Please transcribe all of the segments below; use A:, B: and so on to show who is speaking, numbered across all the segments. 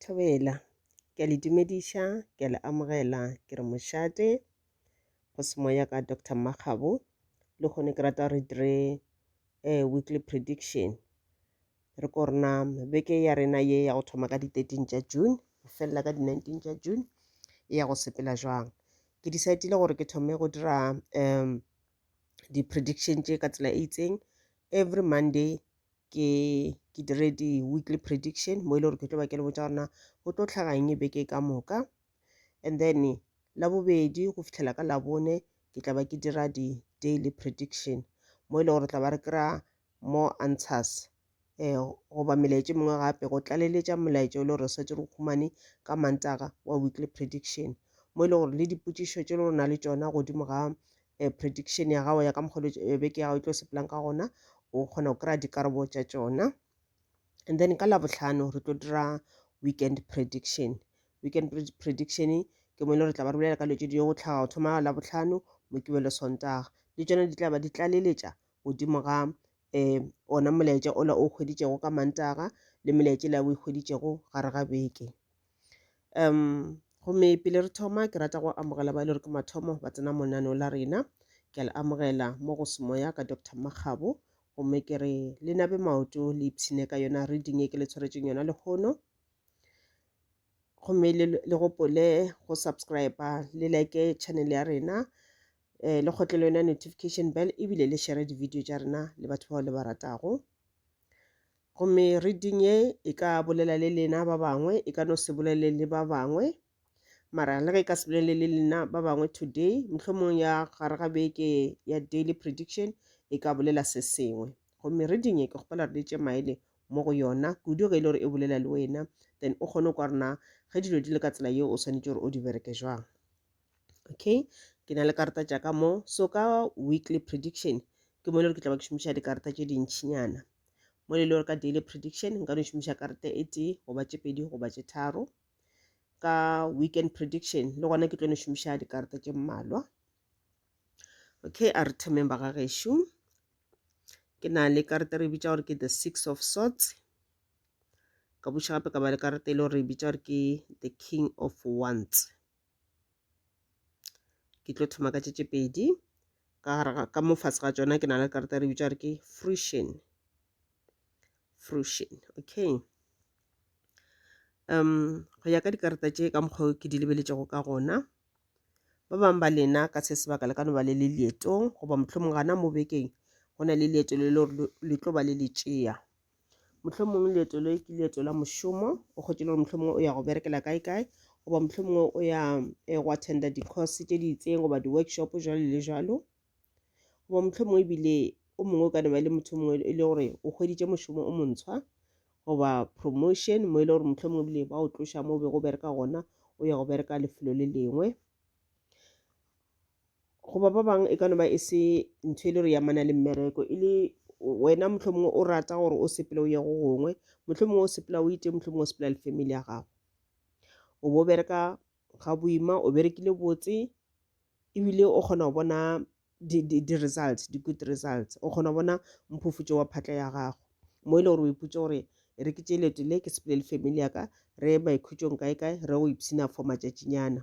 A: Thobela, ke a le dumediša, ke a le amogela, ke re mošate, go se moya ka Doctor Mmakgabo, le kgone ke rata re dire eh, weekly prediction. Re ko rena beke ya rena ye ya go thoma ka di 13 tša June, go felela ka di 19 tša June, e ya go sepela jwang. Ke decidile gore ke thome go dira um di-prediction tše ka tsela e itseng every Monday ke ke dire di-weekly prediction mo e le gore ke tlo ba ke le botsa gorena go tlo tlhaganye beke ka moka and then labobedi go fitlhela ka labone ke tla ba ke dira di-daily prediction mo e le gore tla ba re kry-a more answers um goba melaetša mengwe gape go tlaleletša molaetša o le gore re setse re humane ka mantaga wa weekly prediction mo e le gore le dipotšišo tše le gore na le tšona godimo ga eh, prediction ya gago ya ka mokgolo eh, beke ya gago e tlo sepelang ka gona o kgona go kry-a dikarabo tša tšona and then ka labotlhano re tlo dira weekend prediction weekend prediction ke mo e le re tla ba re bolela ka leo tse di go tlhaga go thoma labotlhano mokibelo sontaga le tsone di tla ba di tlaleletša godimo ga um ona molaetša ola o kgweditšego ka mantaga le melaetša la o e kgweditšego gare ga beke um gomme pele re thoma ke rata go amogela ba e le gore ke mathomo ba tsena monaneo la rena ke a le amogela mo go semoya ka dr makgabo gomme ke re le nabe maoto le ipshine ka yona reading e ke le tshwaretseng yona lehono gomme le le gopole go subscribe le like channel ya rena um le kgotlele yona notification bell ebile le share di-video tša rena le batho bao le ba ratago Gomme reading ye e ka bolela le lena ba bangwe, e ka no se bolele le ba bangwe. Mara le ge e ka se bolele le lena ba bangwe today, mohlomong ya gare ga beke ya daily prediction e ka bolela se sengwe. Gomme reading ye ke kgopela re letse maele mo go yona, kudu ge e le gore e bolela le wena, then o kgone kwa rena ge dilo di le ka tsela yeo o swanetše gore o di bereke jwang. okay ke na le karata tša ka mo so ka weekly prediction ke mo e le gore ke tla ba ke šomiša dikarata tše dintšhinyana mo e le gore ka daily prediction nka no šomiša karata e tee goba tše pedi goba tše tharo ka weekend prediction le gona ke tlo no šomiša dikarata tše mmalwa okay a re thomeng ba ga gešo ke na le karata re bitša gore ke the six of sorts ka buša gape ka ba le karata e le gore re bitša gore ke the king of wands ke tlo thoma ka tše tše pedi ka gare ga ka mo fase ga tšona ke na le karata re bitša gore ke fruition fruition okay um go ya ka dikarata tše ka mokgwa ke di lebeletšego ka gona ba bangwe ba lena ka se sebaka le ka no ba le le leetong goba mohlomong gana mo bekeng go na le leeto le le tlo ba le le tšea mohlomongwe leeto le ke leeto la mošomo o kgotse le gore mohlomongwe o ya go berekela kae kae goba mohlomongwe o ya eh, go attenda di-course tše di itseng goba di-workshop jalo le jalo goba mohlomongwe ebile o mongwe o ka ne ba le motho mongwe e le gore o hweditše mošomo o montshwa goba promotion mo e le gore mohlomongwe ebile ba o tloša mo o be go bereka gona o ya go bereka lefelo le lengwe Goba ba bangwe e ka no ba e se ntho e le gore ya mana le mmereko e le wena mohlomongwe o rata gore o sepele o ye go gongwe mohlomongwe o sepela o ite mohlomongwe o sepela le family ya gago o bo bereka ga boima o berekile botse ebile o kgona go bona di-results di-good results o kgona go bona mphufutšo wa phatla ya gago mo e le gore o iputse gore e re ke tše leto le ke sepele le family ya ka re ye maikhutšong kae kae re go ipshina for matšatšinyana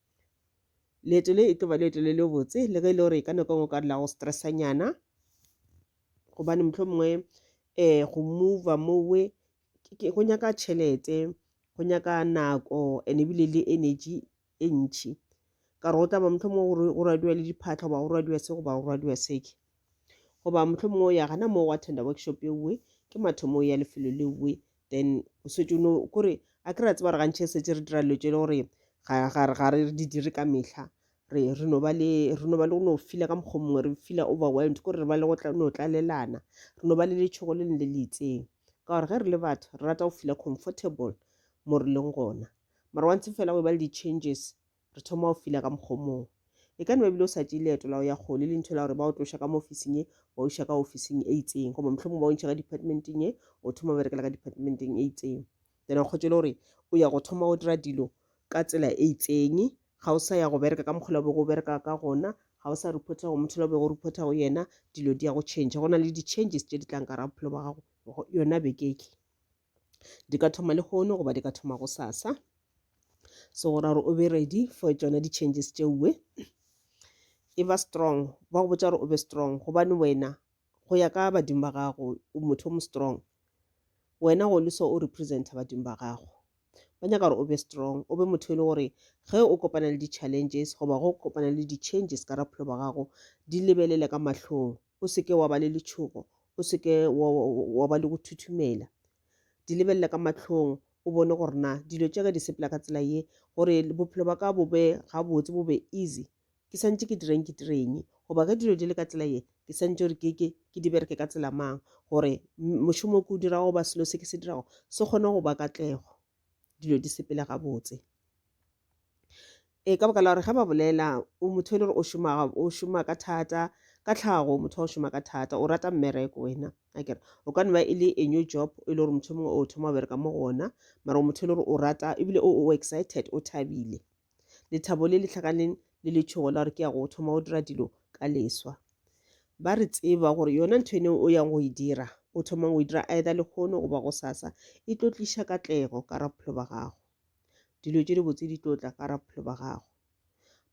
A: leeto le e tlo ba leeto le le botse le ge e le gore ka nako engwe ka dula go stressanyana gobane motlho mongwe um eh, go mova mowe go nyaka tšhelete go nyaka nako and ebile le energy e ntšhi ka gore go tla ba motlho mongwe go radiwa le diphatlha goba go radiwa se goba go radiwa seke goba motlho mongwe o ya gana moo wa tender workshop ewe ke mathomo ya lefelo lewe then o setse no kore a ke ra tseba gore gantšhe setse re dira dilo tse e le gore ga re di dire ka metlha re re no ba le re no ba le go no fila ka mokgwa mongwe re fila overwhelmed kore re ba le go no tlalelana re no ba le letshogo le leng le le itseng ka gore ge re le batho re rata go fila comfortable mo re leng gona mara wa ntse fela go e ba le di-changes Re thoma go fila ka mokgwa o mongwe. E ka no ba ebile o sa tšee leeto la go ya kgole le ntho la gore ba o tloša ka mo ofising e ba o iša ka ofising e itseng goba mohlomong ba o ntšha ka departmenteng e o thoma berekela ka departmenteng e itseng then o kgotse le gore o ya go thoma go dira dilo ka tsela e itseng ga o sa ya go bereka ka mokgwa o bego o bereka ka gona ga o sa reporta go motho le bego o reporta go yena dilo di ya go change go na le di-changes tše di tlang ka ra bophelo ba gago yona bekeke di ka thoma lehono goba di ka thoma go sasa so go ra gore o be ready for tsone di-changes tšeue e ba strong ba go botsa gore o be strong gobane wena go ya ka badimo ba gago o motho o mo strong wena go le so o representa badimo ba gago ba nyaka gore o be strong o be motho e le gore ge o kopana le di-challenges goba go kopana le di-changes ka raphelo ba gago di lebelele ka mahlong o se ke wa ba le letšhogo o se ke wa ba le go thuthumela di lebelele ka matlhong o bone gore na dilo tša ka di sepela ka tsela ye gore bophelo ba ka bo be gabotse bo be easy ke santse ke direng ke direng goba ge dilo di le ka tsela ye ke santse gore keke ke di bereke ka tsela mang gore mošomo o ke o dirago ba selo se ke se dirago se kgone go ba katlego dilo di sepele gabotse e ka baka la gore ge ba bolela o motho e le gore o šoma o šoma ka thata ka tlhago motho wa o šoma ka thata o rata mmereko wena a kere o ka nna e le a new job e le gore motho mongwe o thoma o bereka mo go ona mara o motho e le gore o rata ebile o excited o thabile lethabo le le hlakaneng le letšhogo la gore ke ya go thoma go dira dilo ka leswa ba re tseba gore yona ntho ene o yang go e dira o thomang go e dira either lekgono goba go sasa e tlo tliša katlego ka ra bophelo ba gago dilo tše dibotse di tlo tla ka ra bophelo ba gago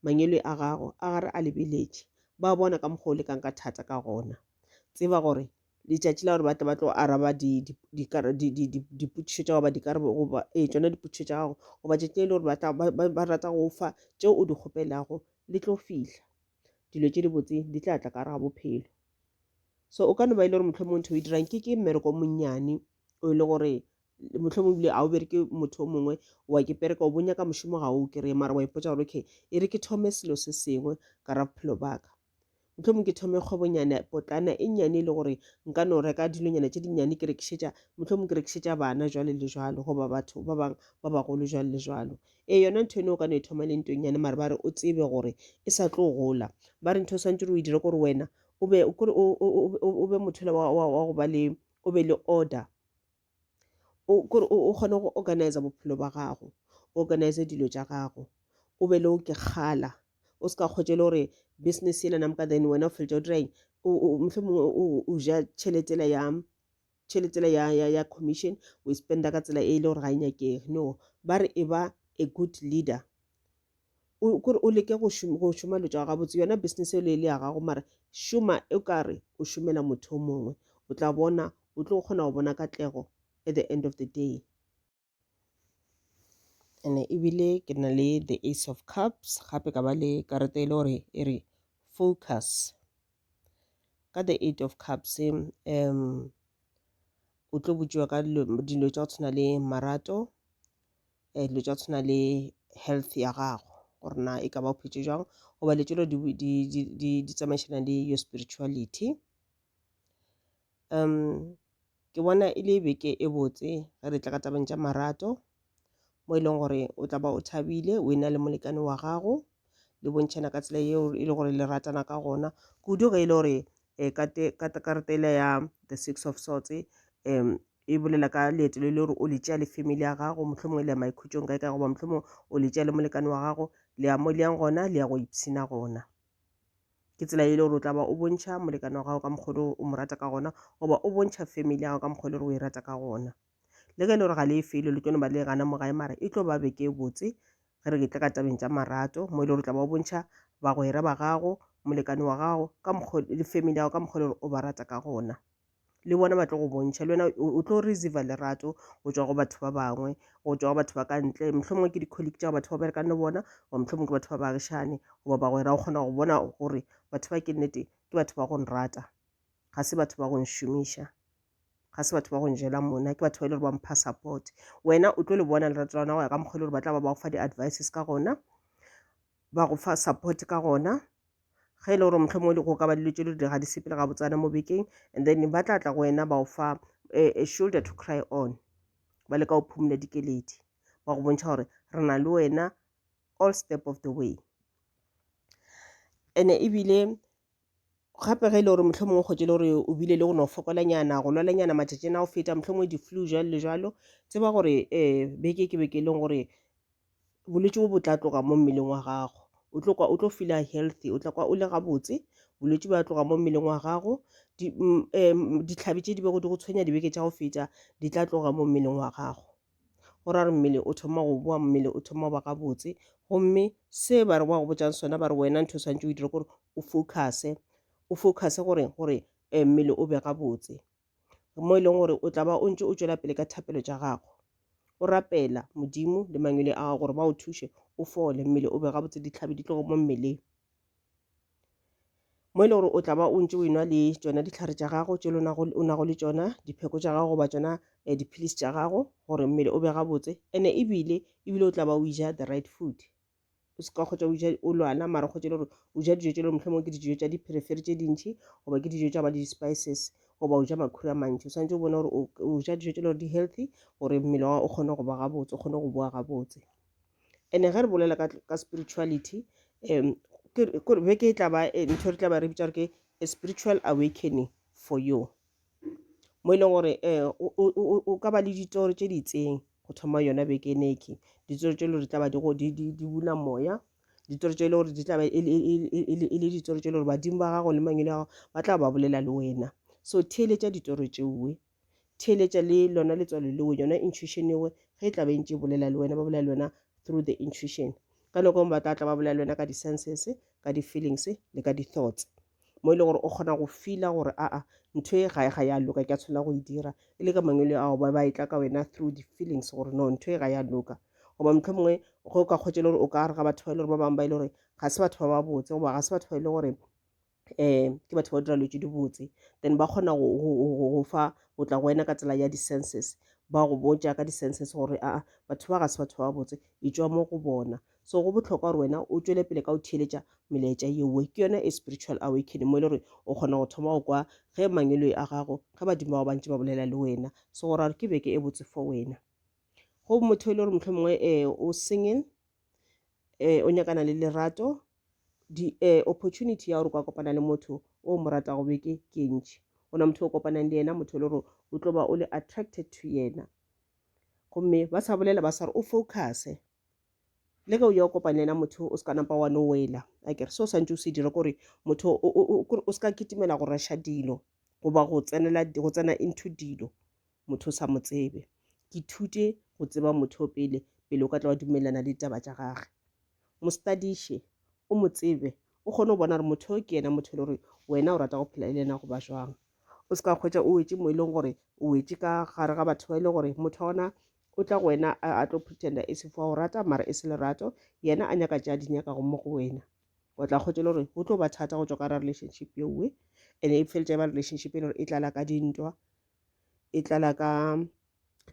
A: mangelo a gago a gare a lebeletše ba bona ka mokgwa o lekang ka thata ka gona tseba gore letšatši la gore ba tle ba tlo araba dipotšišo tša goba dikarabo goba ee tsona dipotšišo tša gago goba tšatši le le gore ba rata go fa tšeo o di kgopelago le tlo fihla dilo tše di botse di tla tla ka gare ga bophelo so o ka no ba e le gore motlho mongwe ntho o e dirang ke ke mmereko monnyane o e le gore motlho mongwe bile ga o bereke motho o mongwe wa ke pereka o bonya ka mošomo ga o kry-e mara wa ipotsa gore okay e re ke thome selo se sengwe ka ra bophelo baka mohlomong ke thome kgwebonyana potlana e nnyane e le gore nka no reka dilonyana tše dinnyane ke rekišetša mohlomong ke rekišetša bana jwale le jwalo goba batho ba bangwe ba bagolo jwale le jwalo ee yona ntho eno o ka no e thoma le ntong nyane mare ba re o tsebe gore e sa tlo gola ba re ntho o swantse re o e dire gore wena o be mothole wa go ba le o be le order kore o kgone go organize bophelo ba gago o organize dilo tša gago o be le o ke kgala o se ka kgwetše le gore business ena namka then wena o feletša o dira eng mohlomongwe o ja tšheletela ya tšheletela ya ya ya commission o e spenda ka tsela e le gore ga e nyakege no ba re e ba a good leader o kore o leke go šoma go šoma lo tšwa gabotse yona business e le ya gago mara šoma e kare o šomela motho mongwe o tla bona o tlo kgona go bona katlego at the end of the day ene ebile ke na le the ace of cups gape ka ba le karata e le gore e re focus ka the eight of cups um o tlo botšiwa ka dilo tša go tshwana le marato dilo tša go tshwana le health ya gago gore na e ka ba o phetse jwang goba dilo tšelo di tsamaišana le your spirituality. Ke bona e le beke e botse ge re tla ka tabeng tša marato mo e leng gore o tla ba o thabile wena le molekane wa gago le bontšhana ka tsela yeo e le gore le ratana ka gona kudu ge e le gore karata ela ya the six of swords e e bolela ka leeto le le gore o le tšea le family ya gago mohlomongwe le ya maikhutšong kae ka goba mohlomongwe o le tšea le molekane wa gago le ya mo le yang gona le ya go ipshina gona ke tsela e le gore o tla ba o bontšha molekane wa gago ka mokgolo o mo rata ka gona goba o bontšha family ya gago ka mokgolo gore o e rata ka gona le ge e le gore ga le e felo le tlono ba le gana mo gae mara e tlo ba beke e botse ge re ke tla ka tabeng tša marato mo e le gore o tla ba o bontšha bagwera ba gago molekane wa gago ka mokgolo le family ya gago ka mokgolo gore o ba rata ka gona le bona ba tlo go bontšha le wena o tlo receiva lerato go tswa go batho ba bangwe go tswa go batho ba ka ntle motlho mongwe ke di-colleague tša batho ba berekang le bona goba motlho mongwe ke batho ba baagišane goba bagwera o kgona go bona gore batho ba ke nnete ke batho ba go nrata ga se batho ba go nšomiša ga se batho ba go njela mona ke batho ba e le gore ba mpha support wena o tlo le bona lerato la gona go ya ka mokgwa e le gore ba tla ba ba go fa di-advices ka gona ba go fa support ka gona ge e le gore mohlomongwe go ka ba dilo tše di ga di sepele ga botsana mo bekeng and then ba tla tla go wena ba o fa a eh, eh, shoulder to cry on ba le ka go phumula dikeledi ba go bontšha gore re na le wena all step of the way ene ebile gape ge e le gore motlho mongwe kgotse e le gore o bile le go no fokolanyana go lwalanyana matšatšing a go feta motlho mongwe di-flu jalo le jalo tseba gore um beke ke beke e leng gore bolwetši bo bo tla tloga mo mmeleng wa gago o tlo kwa o tlo feel healthy o tla kwa o le gabotse bolwetši ba tloga mo mmeleng wa gago ditlhabi tše di bego di go tshwenya dibeke tša go feta di tla tloga mo mmeleng wa gago go ra re mmele o thoma go boa mmele o thoma go ba gabotse gomme se ba re ba go botšang sona ba re wena ntho santse o dire gore o focuse o focuse gore gore eh, mmele o be gabotse mo e leng gore o tla ba o ntse o tšwela pele ka thapelo tša gago o rapela modimo le mangwele a gago gore ba o thuše o fole mmele o be gabotse ditlhabi di tlogo mo mmeleng mo e le gore o tla ba o ntse o enwa le tsona ditlhare tša gago tše o nago le tsona dipheko tša gago goba tsona um eh, dipilisi tša gago gore mmele o be gabotse and-e ebile ebile o tla ba o ija the right food o se ka kgotsa o ja o lwana mara kgotsa le gore o ja dijo tse le motlho mongwe ke dijo tsa dipherefere tse dintšhi goba ke dijo tsa ba di-spices goba o ja makhuri a mantši o tshwanetse o bone gore o ja dijo tse le gore di-healthy gore mmele wa o kgone go ba gabotse o kgone go boa gabotse and-e ge re bolela ka spirituality um beke e tla ba eh, ntho re tla ba re bitsa gore ke a spiritual awakening for you mo e leng gore um o ka ba le ditoro tše di itseng go thoma yona beke ene ke ditoro tše e le gore tla ba di go di di di buna moya ditoro tše e le gore di tla ba e le e le e le e le ditoro tše e le gore badimo ba gago le mangwele a gago ba tla ba bolela le wena so theeletša ditoro tšeoe theeletša le lona letswalo leo yona intuition ewe ge e tla ba e ntše e bolela le wena ba bolela le wena through the intuition ka nako ngwe ba tla tla ba bolela le wena ka di-senses ka di-feelings le ka di-thoughts mo e le gore o kgona go fila gore aa ntho e gae ga ya loka ke a tshwanela go e dira e le ka mangwele ao ba ba e tla ka wena through di-feelings gore no ntho e ga ya loka goba motlho mongwe ge o ka kgwetsa le gore o ka re ga batho ba e le gore ba bangwe ba e le gore ga se batho ba ba botse goba ga se batho ba e le gore um ke batho ba dira lotse di botse then ba kgona go fa go tla go wena ka tsela ya di-senses ba go botja ka di-senses gore aa batho ba ga se batho ba botse e tswa mo go bona So go bohlokwa gore wena o tšwele pele ka go theeletša melaetša yeoe. Ke yona e spiritual awakening mo e le gore o kgona go thoma go kwa ge mangweloi a gago ge badimo ba go bantši ba bolela le wena. So go ra gore ke beke e botse for wena. Go motho e le gore mohlho mongwe um o single um o nyakana le lerato di um opportunity ya gore o ka kopana le motho o mo ratago beke ke e ntšhi go na motho o kopanang le yena motho e le gore o tlo ba o le attracted to yena gomme ba sa bolela ba sa re o focuse le ge o ya o kopane yena motho o se ka napa wa no wela a kere se o santse o se dira kore motho o se ka kitimela go rasha dilo goba go tsenela go tsena into dilo motho o sa mo tsebe ke thute go tseba motho o pele pele o ka tla wa dumelelana le ditaba tša gage mo studiše o mo tsebe o kgone go bona gore motho o ke yena motho e le gore wena o rata go phela e le yena goba jwang o se ka kgwetsa o wetse mo e leng gore o wetse ka gare ga batho ba e le gore motho wa ona O tla go wena a, a tlo pretenda e se fo a o rata, mara e se lerato. Yena a nyaka tše a di nyakago mo go wena. O tla kgotse le gore go tlo ba thata go tšwa ka ra relationship ye nngwe, and e feletša e ba relationship e le gore e tlala ka dintwa, e tlala ka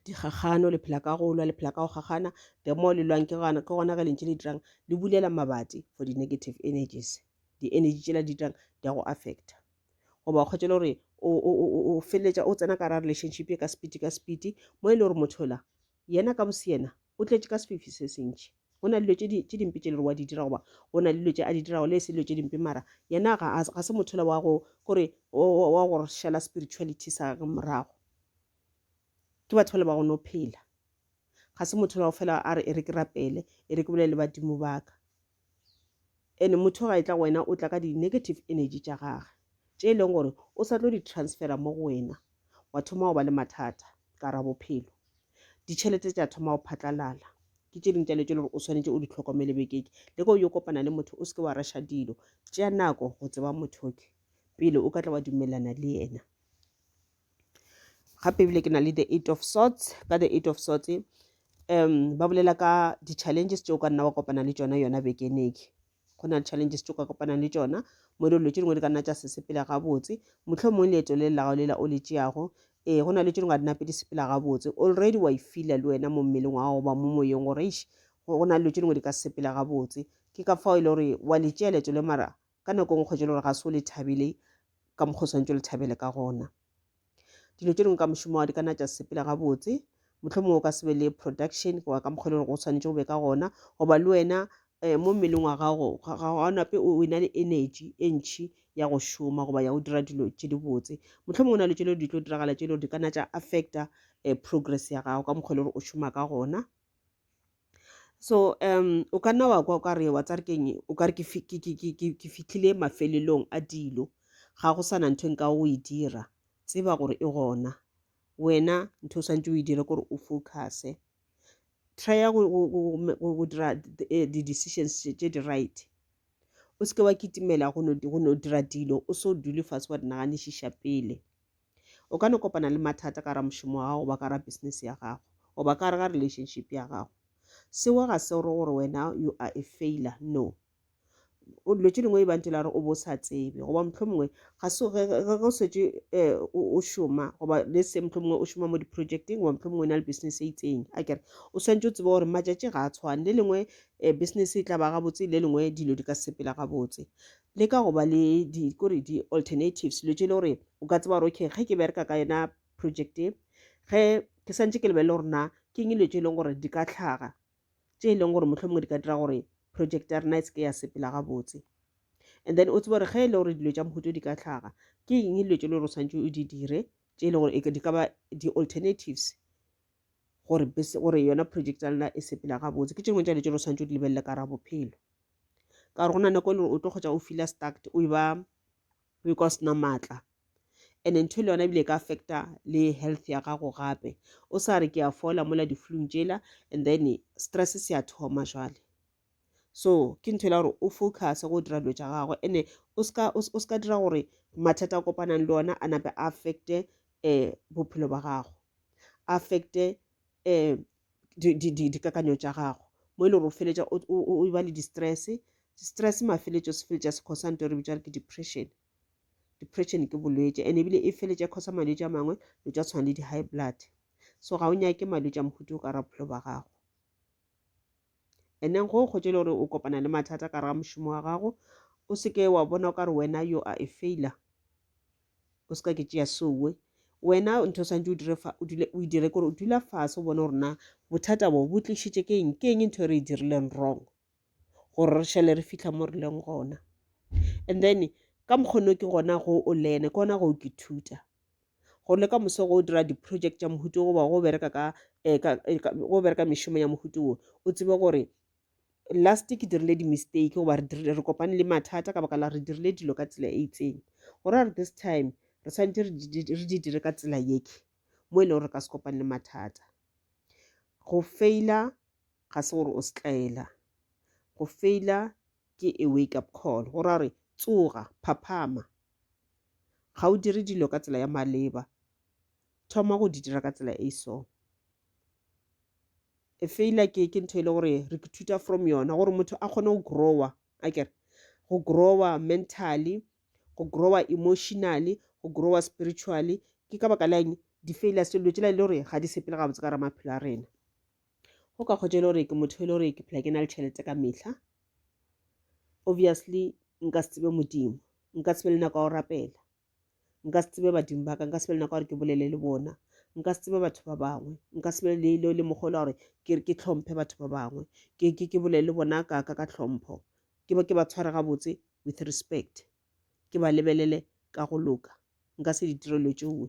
A: dikgakgano, le phela ka go lwa, le phela ka go kgakgana. The more le lwang, ke gona ke gona ge lentše le dirang le bulela mabati for di-negative energies. Di-energy tšela di dirang di a go affecta. goba o kgwetšele gore o feleletša o tsena ka ra relationship e ka sepiti ka sepiti mo e le gore mothola yena ka boseyena o tletše ka sefifi se sentši go na le dilo tše dimpe tše le gore wa di dira goba go na le dilo tše a di dirago le e se dilo tše dimpe mara yena ga se mothola wa go kore wa go šala spirituality sa gage morago ke batho ba le ba go no phela ga se mothola go fela a re e re ke rapele e re ke bolele badimo baka And motho ga e tla go wena o tla ka di negative energy tša gage tše e leng gore o sa tlo di transfera mo go wena wa thoma go ba le mathata ka ra bophelo ditšhelete tša thoma go phatlalala ke tše dingwe tša dilo tše le gore o swanetše o di tlhokomele bekeke le ka o yo kopana le motho o se ke wa rasha dilo tšea nako go tseba motho ke pele o ka tla wa dumelana le yena gape ebile ke na le the eight of sorts ka the eight of sorts um ba bolela ka di-challenges tse o ka nna wa kopana le tsona yona bekeneke go na le challenges tse o ka kopanang le tsona mo dilo tse dingwe di ka nna tsa sesepela gabotse motlho mongwe leeto le lelago lela o le tšeago ee go na le tse dingwe a di nape di sepela gabotse already wa e fila le wena mo mmeleng wa gago ba mo moyeng gore go na le dilo tse dingwe di ka sepela gabotse ke ka fao e le gore wa le tšea leeto le mara Ka nako e nngwe gore ga se o le thabile ka mokgwa o swantse o le thabele ka gona dilo tše dingwe ka mošomo wa di ka na tša sepela gabotse motlho mongwe o ka sebe le production goba ka mokgwa e le gore go tshwanetse o be ka gona goba le wena um mo mmeleng wa gago ga nape o na le energy e ntšhi ya go šoma goba ya go dira dilo tše dibotse motlho mongwe o na le tše le di tlo diragala tše le gore di ka na tša affecta um progress ya gago ka mokgwa e le gore o šoma ka gona so um o ka nna wa kwa o ka re wa tsa re keng o ka re ke fi- ke- ke- ke- ke- ke fitlhile mafelelong a dilo ga go sana ntho e nka o e dira tseba gore e gona wena ntho o swantse o e dire gore o focuse trya go- go- go- go- go- go dira di- eh, di-decisions tše tše di right o seke wa kitimela go no di- go no dira dilo o so dule fase wa di naganišiša pele O ka no kopana le mathata ka ramošomo wa gago goba ka ra business ya gago goba ka re ga relationship ya gago. Seo ga se gore gore wena you are a failure, no o dilo tše dingwe e bantše la re o bo sa tsebe goba motlho mongwe ga se ge o setse eh, o šoma goba le se motlho mongwe o šoma mo di-projecteng goba motlho mongwe o na le business e itseng a kere o swantse o tsebe gore matšatši ga a tshwane le lengwe um business e tla ba gabotse le lengwe dilo di ka sepela gabotse le ka go ba le di kore di alternatives lo tšele gore o ka tseba gore okay ge ke bereka ka yona project e ge ke santse ke lebelele gore na ke eng dilo tše e leng gore di ka tlhaga tše e leng gore motlho mongwe di ka dira gore project ya rena e seke ya sepela gabotse and then o tsebe gore ge e le gore dilo tša mohuto di ka tlhaga ke eng dilo tše e le gore o tshwanetse o di dire tše e leng gore di ka ba di-alternatives gore gore yona project ya lena e sepela gabotse ke tšengwe tša dilo tse lo santse o di lebelele ka ra bophelo ka gore go na nako e le gore o tlo kgotsa o fila stacked o ba o e ka o sena maatla and ntho e le yona ebile e ka affecta le health ya gago gape o sa re ke a fola mola di-flung tšela and then stress se ya thoma jale so ke ntho e la gore o focus go dira dilo tša gagwe ene o ska o ska dira gore mathata a kopanang le ona a nape a affecte um bophelo ba gago a affecte um dikakanyo tša gago mo e le gore o feletša o ba le di-stress stress mafeletšo se feletša se khosa nto re bitša re ke depression depression ke bolwetši and ebile e feletša khosa malwetši a mangwe lo tša tshwana le di-high blood so ga o nyake malwetši a mohutu o ka ra bophelo ba gago And then go kgotše le gore o kopana le mathata ka ga mošomo wa gago, o seke wa bona o ka re wena yo a e faila. O seka ke tšea sowe. Wena ntho santse o dire fa o dule o dire gore o dula fase o bone gore na bothata bo bo tlišitše ke eng ke eng ntho e re e dirileng wrong gore re šele re fitlha mo re leng gona. And then ka mokgonne ke gona go o lene ke gona go ke thuta go le ka moso go dira di-project tša mohuto goba go bereka ka eh, eh, ka go bereka mešomo ya mohuto wo o tsebe gore last ke dirile di-mistake goba re dirile- re kopane le mathata ka baka la re dirile dilo ka tsela e itseng gore a re this time re tshwanetse re di- di- re di dire ka tsela yeke mo e le gore re ka se kopane le mathata go faila ga se gore o setlaela go faila ke a wake up call go ra gore tsoga phaphama Ga o dire dilo ka tsela ya maleba, thoma go di dira ka tsela e so. E feila ke ke ntho e le gore re ithuta from yona gore motho a kgone go growa a kere go growa mentally go growa emotionally go growa spiritually ke ka baka la eng di feila se dilo tsela e le gore ga di sepele gabotse ka ra maphelo a rena go ka kgotša e le gore ke motho e le gore ke phela ke na le tšhelete ka mehla obviously nka se tsebe modimo nka se be le nako ya go rapela nka se tsebe badimo ba ka nka se be le nako ya gore ke bolele le bona nka se tsebe batho ba bangwe nka se be le le mogolo gore ke ke tlhomphe batho ba bangwe ke ke ke bolele le bona ka ka ka tlhompho ke ba ke ba tshware gabotse with respect ke ba lebelele ka go loka nka se ditirelo tšoe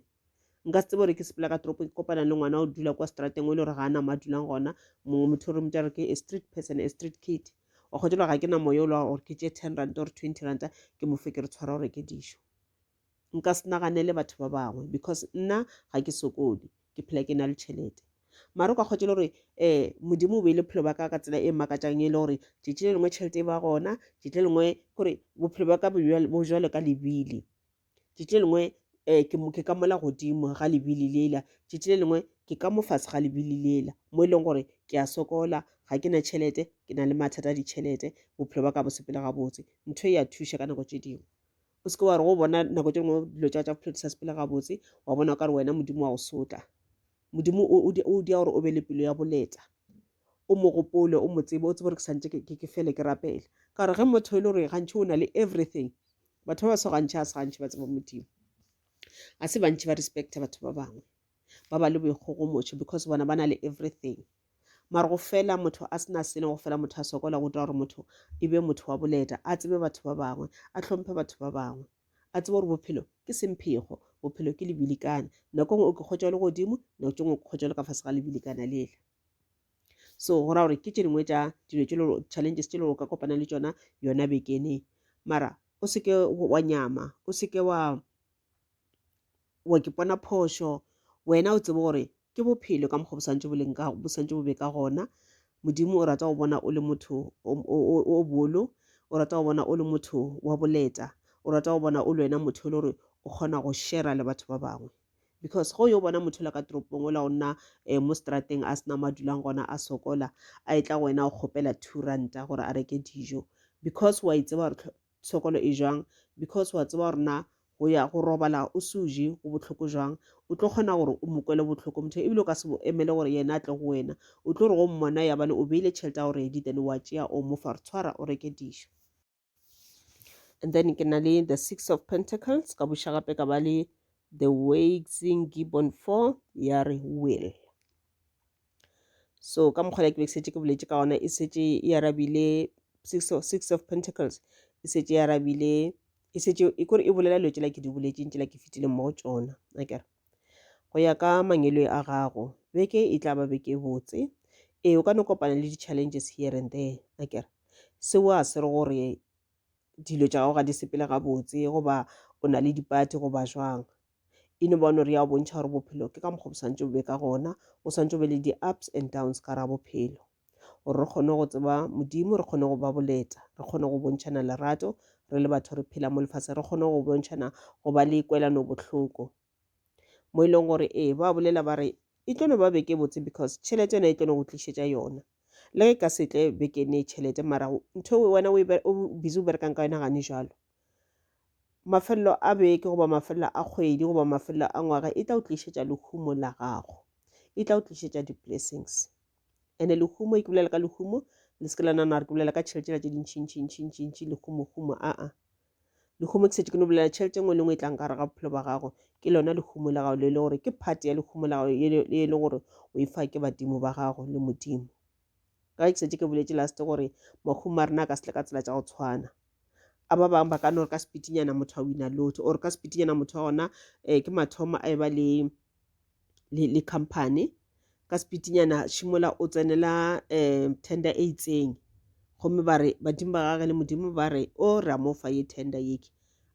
A: nka se tsebe gore ke sepela ka toropo ke kopana le ngwana o dula kwa strateng o e le gore ga a nama a dulang gona mongwe motho o re motsa re ke a street person a street kid wa kgotsa gore ga ke na moya o lwa gore ke tše ten ranta or twenty ranta ke mofe ke re tshwara gore ke dišo nka se naganele batho ba bangwe because nna ga ke sokole ke phela ke na le tšhelete mara o ka kgwetšele gore um modimo o beile bophelo ba ka ka tsela e makatšang e le gore tšetši le lengwe tšhelete e ba gona tšetši le lengwe gore bophelo ba ka bo jalo ka lebile tšetši le lengwe um ke ka mola godimo ga lebile lela tšetši le lengwe ke ka mo fase ga lebile lela mo e leng gore ke a sokola ga ke na tšhelete ke na le mathata a ditšhelete bophelo ba ka bo sepele gabotse ntho e ya thuša ka nako tše dingwe o seke wa re go bona nako tše dingwe dilo tša tša bophelo di sa sepele gabotse wa bona o ka re wena modimo wa go sotla modimo o dia gore o be le pelo ya boleta o mo gopole o mo tsebe o tsebe gore ke santse ke fele ke rapela ka gore ge motho e le gore gantšhi o na le everything batho ba ba so gantšhi a se gantšhi ba tseba modimo ga se bantšhi ba respecta batho ba bangwe ba ba le boikgogomotšo because bona ba na le everything mara go fela motho a sena selo go fela motho a sokola go twa gore motho e be motho wa boleta a tsebe batho ba bangwe a tlhomphe batho ba bangwe a tsebe gore bophelo ke semphego bophelo ke lebilikana nako ngwe o ke kgotša le godimo nako tse ngwe o ke kgotša le ka fase ga lebilikana lela so go ra gore ke tše dingwe tša dilo tše challenges tše le go ka kopana le tšona yona bekeneng mara o seke wa nyama o seke wa wa ke pona phošo wena o tsebe gore ke bophelo ka mokgwa bosantse boleng ka bosantse bobe ka gona modimo o rata go bona o le motho o bolo o rata go bona o le motho wa boleta o rata go bona o le wena motho e le gore o kgona go shera le batho ba bangwe because go yo bona motho la ka toropong o la o nna um mo strateng a sena ma dulang gona a sokola a e tla go wena o kgopela two ranta gore a reke dijo because wa itseba gore tshokolo e jwang because wa tseba gore na go ya go robala o se o je go bohloko jwang o tlo kgona gore o mo kwele bohloko motho ebile o ka se mo emele gore yena a tle go wena o tlo re go mmona yabane o beile tšhelete ya gore editene wa tšea o mo fa re tshwara o reke dijo and then ke na le the six of pentacles ka buša gape ka ba le the waxing gibbon four ya re will so ka mokgwa le ke be setse ke boletse ka ona e setse e arabile six of, six of pentacles e setse e arabile e setse e kore e bolela dilo tsela ke di boletseng tsela ke fetileng mo go tsona akere go ya ka mangelo a gago beke e tla ba beke e botse ee o ka no kopana le di-challenges here and there akere seo a se re gore dilo tša gago ga di sepele gabotse goba o na le dipati goba jwang e no bone gore ya bontšha gore bophelo ke ka mokgwa bo swantse bobe ka gona o swantse be le di-ups and downs ka ra bophelo gore re kgone go tseba modimo re kgone go ba boleta re kgone go bontšhana lerato re le batho re phela mo lefatshe re kgone go bontšhana go ba le kwelano bohloko mo e leng gore ee ba bolela ba re e tlo no ba beke botse because tšhelete yona e tlo no go tlišetša yona le ge ka setle bekene tšhelete mara ntho e wena o busy o berekang ka yona gane jalo mafelelo a beke goba mafelelo a kgwedi goba mafelelo a ngwaga e tla o tlišetša lehumo la gago e tla o tlišetša di-blessings and-e lehumo e ke bolela ka lehumo le se ke la nana re ke bolela ka tšhelete ela tše dintšhintšhintšhintšhintšhi lehumohumo aa lehumo ke setse ke no bolela tšhelete e nngwe le nngwe e tlang ka gare ga bophelo ba gago ke lona lehumo la gago le e le gore ke phate ya lehumo la gago e le gore o e fa ke badimo ba gago le modimo ka ke šetše ke boletše last gore mahumo a rena a ka setle ka tsela tša go tshwana a ba bangwe ba ka no re ka sepitinyana motho a wina lotho or ka sepitinyana motho wa gona um ke mathomo a e ba le le company ka sepitinyana šimola o tsenela um tender e itseng gomme ba re badimo ba gage le modimo ba re o oh, re a mo fa ye tender yeke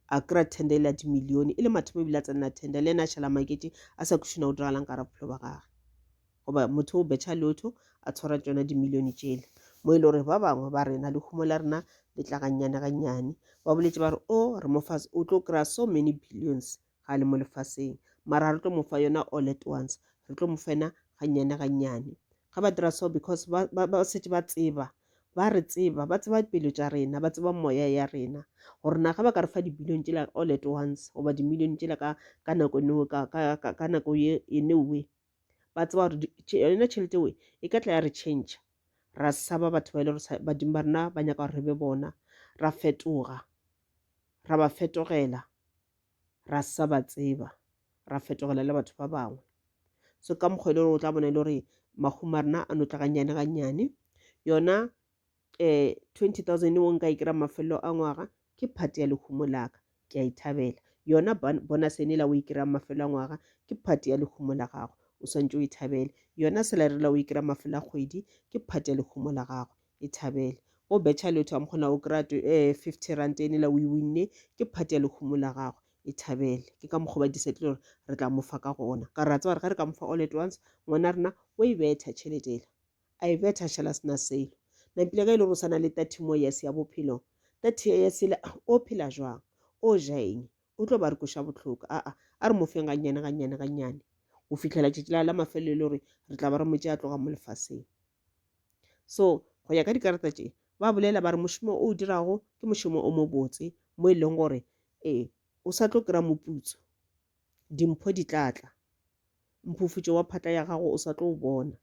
A: a kry-a tender e le a dimilione e le mathomo ebile a tsenela tender le ena a šhala makete a sa kušina go diragalang ka ra bophelo ba gage goba motho o betšha lotho a tshwara tšona dimilione tšele mo e le gore ba bangwe ba rena lehumo la rena le tla gannyane gannyane ba boletše ba re o oh, re mofase o tlo kry-a so many billions ga a le mo lefaseng mara re tlo mo fa yona all at once re tlo mo fena gannyane gannyane ga ba dira so because ba, ba, ba setse ba tseba ba re tseba ba tseba pelo tša rena ba tseba moya ya rena gore na ga ba ka re fa dibilione tšela all at once goba dimilione tšela ka, ka nako neo ka, ka, ka, ka nako ye e newe ba tseba gore yone tšhelete we e ka tla ya re change ra saba batho ba e le gore badimo ba rena ba nyaka gore re be bona ra fetoga ra ba fetogela ra sa ba tseba ra fetogela le batho ba bangwe so ka mokgwa e le gore o tla bona e le gore mahumo a rena a no tla gannyane gannyane yona eh, 20000 wo nka e kira mafelelo a ngwaga ke phate ya lehumo laka ke a e thabela yona bonus ene la o e kira mafelelo a ngwaga ke phate ya lehumo la gago o swantse o e thabele yona salary la o e kira mafelelo a kgwedi ke phate ya lehumo la gago e thabele o betšha lotho am kgona o kry-a um eh, 50 rand ene la o e winne ke phate ya lehumo la gago e thabele ke ka mokgwa ba disettle gore re tla mofa ka gona ka ra tseba re ga re ka mofa all at once ngwana rena o e betha tšheletela I bet a šala sena selo. Nampile ge e le gore o sana le 30 more years ya bophelo, 30 years ele o phela jwang? O ja eng? O tlo ba re koša bohloko. Aa, a re mo feng gannyane gannyane gannyane go fihlela tšatši la la mafelelo e le gore re tla ba re motše a tloga mo lefaseng. So go ya ka dikarata tše ba bolela ba re mošomo o o dirago ke mošomo o mobotse mo e leng gore ee o sa tlo kry-a moputso. Dimpho di tla tla. Mphufutšo wa phatla ya gago o sa tlo o bona.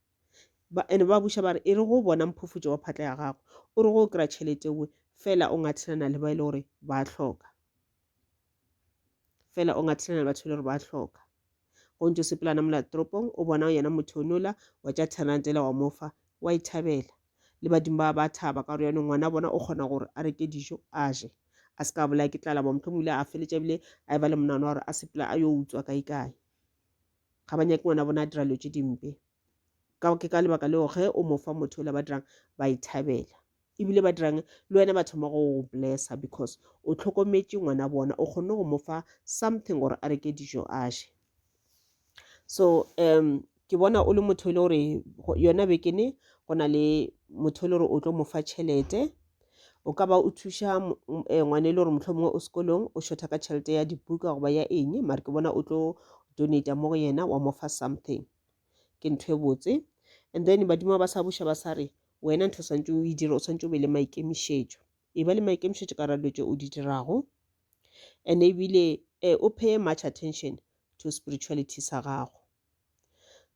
A: Ba, ene ba buša ba re, e re go bona mphufutšo wa phatla ya gago, o re go o kry-a tšhelete nngwe, fela o ngathilana le ba e le gore ba a hloka. Fela o ngathilana le batho e le gore ba a hloka. Go ntse o sepelana mola toropong, o bona yena motho o nola, wa tša ten rand ela wa mo fa, wa e thabela. le badimo ba ba thaba ka gore yone ngwana bona o kgona gore a reke dijo a je a se ka bolaya ke tlala bo motlho mole a feletša ebile a e ba le monana wa gore a sepela a yo utswa kae kae ga ba nyake ngwana bona a dira dilo tse dimpe ke ka lebaka leo ge o mo fa motho ola ba dirang ba e thabela ebile ba dirang le wena ba thoma go blessa because o tlhokometše ngwana bona o kgonne go mo fa something gore a reke dijo a je so um ke bona o le motho e le gore yona bekene go na le motho e le gore o tlo mo fa tšhelete o ka ba o thuša eh, ngwana e le gore motlho mongwe o sekolong o shotha ka tšhelete ya dibuka goba ya eng mare ke bona o tlo donata mo go yena wa mo fa something ke ntho e botse and then badimo ba sa buša ba sa re wena ntho o swantse o e dira o swantse o be le maikemišetšo e ba le maikemišetšo ka ra dilo tše o di dirago and ebile eh, o pay much attention to spirituality sa gago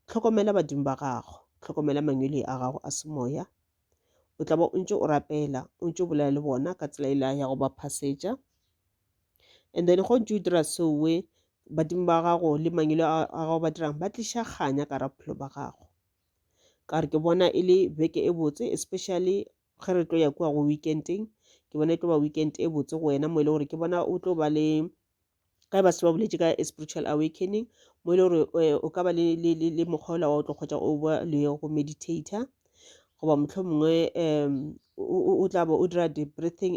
A: tlhokomela badimo ba gago tlhokomela mangwele a gago a semoya o tla ba o ntse o rapela o ntse o bolela le bona ka tsela ela ya go ba phasetša and then go ntse o dira seowe badimo ba gago le mangwele a gago ba dirang ba tliša kganya ka ra bophelo ba gago ka re ke bona e le beke e botse especially ge re tlo ya kua go weekendeng ke bona e tlo ba weekend e botse go wena mo e le gore ke bona o tlo ba le ka e ba se ba boletse ka spiritual awakening mo e le gore eh, o ka ba le, le, le, le mokgwa ola wa o tlo kgotsa o ba le go meditator goba motlho mongwe um o tla ba o dira di-breathing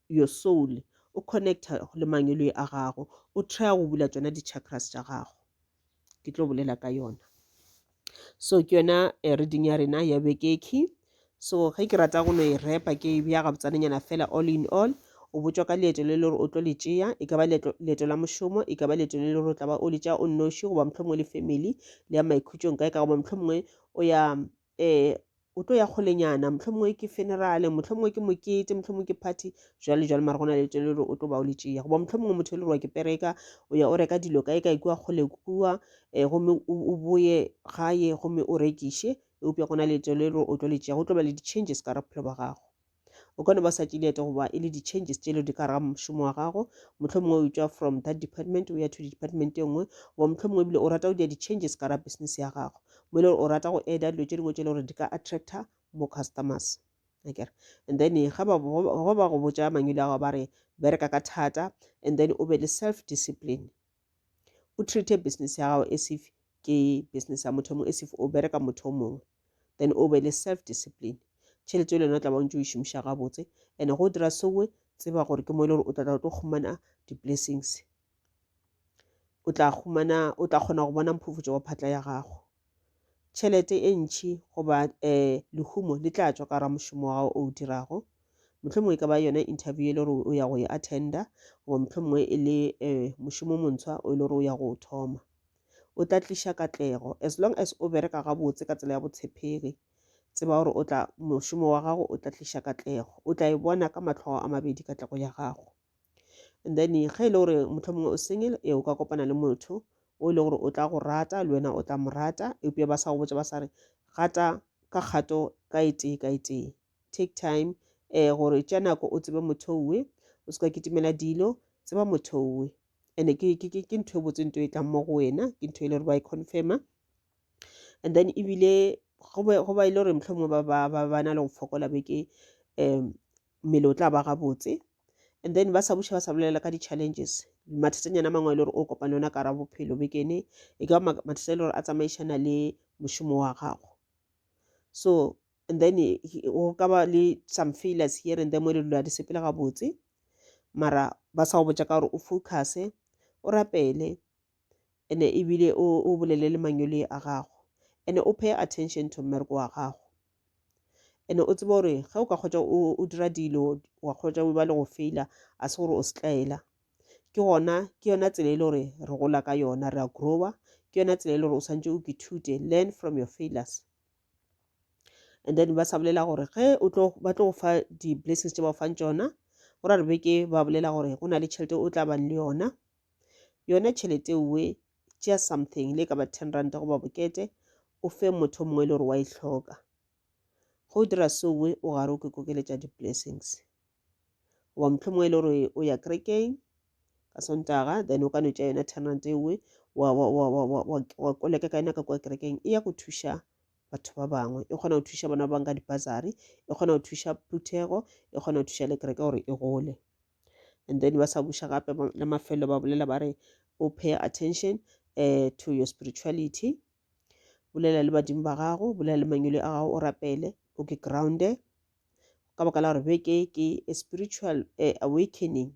A: your soul o connecta le mangwelwe a gago o trya go bula tšona di-chakras tša gago ke tlo bolela ka yona so ke yona eh, reading ya rena ya bekeki so ge ke rata go no e repa ke e bja gabotsanenyana fela all in all o botšwa ka leeto le le gore o tlo le tšea e ka ba leeto leeto la mošomo e ka ba leeto le le gore o tla ba o le tšea o nnoši goba mohlomongwe le family le ya maikhutšong kae ka goba mohlomongwe o ya Ee, o tlo ya kgolenyana, mohlomongwe ke funeral, mohlomongwe ke mokete, mohlomongwe ke party, jwale jwale mara go na le tele gore o tlo ba o le tšea. Goba mohlomongwe motho e le gore wa ke pereka, o ya o reka dilo kae kae kua kgole kua, um eh, gomme o boye gae gomme o rekiše, eupša go na le tele gore o tlo le tšea, go tlo ba le di-changes ka ra bophelo ba gago. o ka no ba sa tšeleete goba e le di-changes tšelo di ka raga mošomo wa gago motlho mongwe o tšwa from that department o ya to department e nngwe goba motlho mongwe ebile o rata go dira di-changes ka ra business ya gago mo e le gore o rata go eda dilo tše dingwe tše e le gore di ka attractor more customers akere and then ga ba go botša mangwele a gago ba re bereka ka thata and then o be le self discipline o treate business ya gago as if ke business ya motho mongwe as if o bereka motho o mongwe then o be le self discipline tšhelete le yone o tla bantse o e šomiša gabotse and go dira sewe tseba gore ke mo e le gore o tlatla o tlo humana di-blessings o tla humana o tla kgona go bona mphufutšo wa phatla ya gago tšhelete e ntši goba um lehumo le tla tšwa ka ra mošomo wa gago o o dirago mohlomongwe e ka ba yona interview e le gore o ya go e attenda goba mohlomongwe e le um mošomo montshwa o e le gore o ya go o thoma o tla tliša katlego as long as o bereka gabotse ka tsela ya botshepegi tseba gore o tla mošomo wa gago o tla tliša katlego o tla e bona ka matlhogo a mabedi katlego ya gago and then ge e le gore motlho mongwe o single e o ka kopana le motho o e le gore o tla go rata le wena o tla mo rata eupša ba sa go botsa ba sa re gata ka kgato ka e tee ka e tee take time um gore tša nako o tsebe motho owe o se ka kitimela dilo tseba motho owe and-e ke ntho e botse nto e tlang mo go wena ke ntho e le gore ba e confirma and then ebile go ba e le gore motlho mongwe ba na le go fokola beke um mmele o tla ba gabotse and then ba sa buša ba sa bolela ka di-challenges mathatanyana a mangwe e le gore o kopane ona kara bophelo bekene e ka mathata e le gore a tsamaišana le mošomo wa gago so and then go ka ba le some failures here and then mo e le dilo a di sepele gabotse mara ba sa go botša ka gore o focuse o rapele ene ebile o, o bolele le manyole a gago ene o pay attention to mmereko wa gago ene o tseba gore ge o ka kgotsa o, o dira dilo wa kgotsa o ba le go faila a se gore o setlaela ke gona ke yona tsela e le gore re gola ka yona re a growa ke yona tsela e le gore o swantse o kithute learn from your failures and then ba sa bolela gore ge o tlo ba tlo go fa di-blessings tse ba fang tsona go ra re beke ba bolela gore go na le tšhelete o tla bang le yona yona tšhelete ewe tšea something le ka ba ten ranta goba bokete o fe motho mongwe e le gore wa e hloka go dira sowe o gare o ke kokeletša di-blessings goba motlho mongwe e le gore o ya kerekeng ka sontaga then o ka no tša yona ten ranta ewe wa koleka ka yona ka kwa kerekeng e ya go thuša batho ba bangwe e kgona go thuša bona ba bang ka dipasari e kgona go thuša phuthego e kgona go thuša le kereke gore e gole and then ba sa buša gape la mafelo ba bolela ba re o pay attention uh, to your spirituality bolela le badimo ba gago bolela le mangwele a gago o rapele o ke grounde ka baka la gore beke ke a spiritual uh, awakening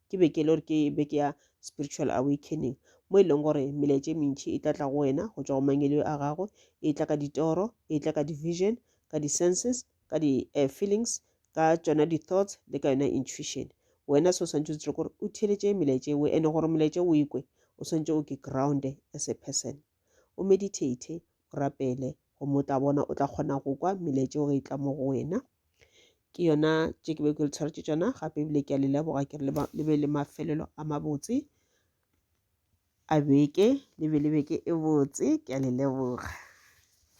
A: ke beke le gore ke beke ya spiritual awakening mo e leng gore melaetše mentšhi e tlatla go wena go tšwa go mangwele a gago e tla ka ditoro e tla ka division ka di-senses ka di uh, feelings ka tšona di thoughts le ka yona intuition wena se o swantse o tsire gore o theletše melaetša engwe ene gore molaetša o ikwe o swantse o ke ground as a person o meditate o rapele gomme o tla bona o tla kgona go kwa melaetša o ge e tla mo go wena ke yona tše ke be ke le tshwaretše tšona gape ebile ke a le leboga ke re le be le mafelelo a mabotse a beke le be le beke e botse ke a le leboga